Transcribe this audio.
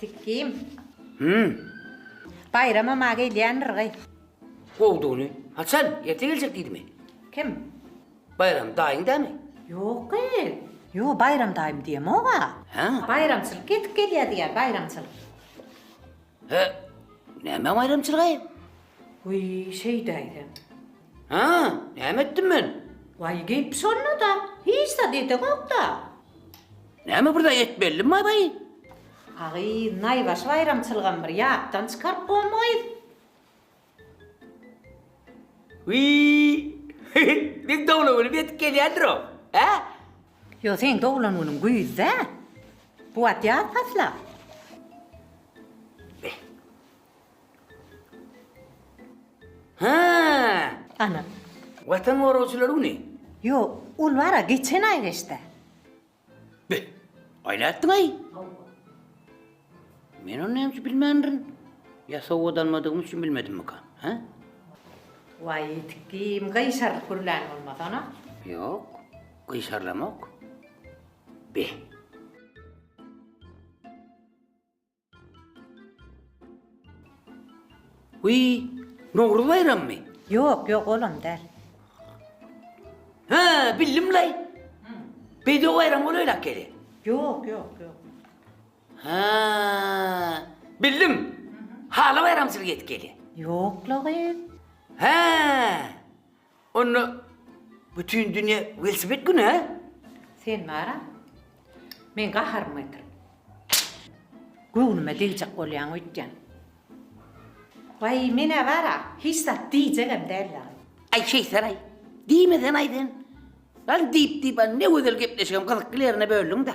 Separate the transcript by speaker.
Speaker 1: Sikim. Hümm. Baýrama ma gelýändir gyz. Gowdugyny. Haçan? Erte geljek diýdimi? Kim? Baýram daýyň dämi? Ýok gyz. Ýo, Baýram daýym diýemog-a. Hä? Baýramçylyk ýetip gelýär diýýär, baýramçylyk. Hä? Näme baýramçylygy? Wiý, şeýdäýsem. Hä, näme etdim men? Waý, gep şonda-da, hiç zat edegok-da. Näme bir zat etmelidin, baý-baý? Agy, naýbaşy baýramçylygam bir ýatdan çykaryp goýmaýys. Wiý, meň doglan günüm ýetip gelýändir-ow, hä? Ýok, seň doglan günüň güýzde. Bu wagt ýaz pasly. Hää! Ana. Watan goragçylary güni. Ýok, ol bar-a, geçen aý geçdi. Be! Aý nätdiň-aý? Men ony näme üçin bilmändirin? Ýa sowgat almadygym üçin bilmedimmika? Hä? Waý, ýetik kim, gyşarylyp gürlän bolmasana? Ýok, gyşarylamok. Be! Wiý, Nowruz baýrammy? Ýok, ýok, olam däl. Hä, bildim-laý. Bedew baýramy bolaýlak gele. Ýok, ýok, ýok. Hä, bildim. Hala baýramçylyk edip gelýä. Ýok-la gyz. Hä! Onda bütin dünýä welosiped güni, hä? Sen bar-a, meň gaharymy getirip, göwnüme degjek bolýaň öýtýän. Waý, men-ä bar-a, hiç zat diýjegem däldir. Aý, şeýtsenaý, diýmesenaý sen. Ýaly diýip-diýip, a ne gözel gepleşigem gyzykly ýerine böldüň-dä.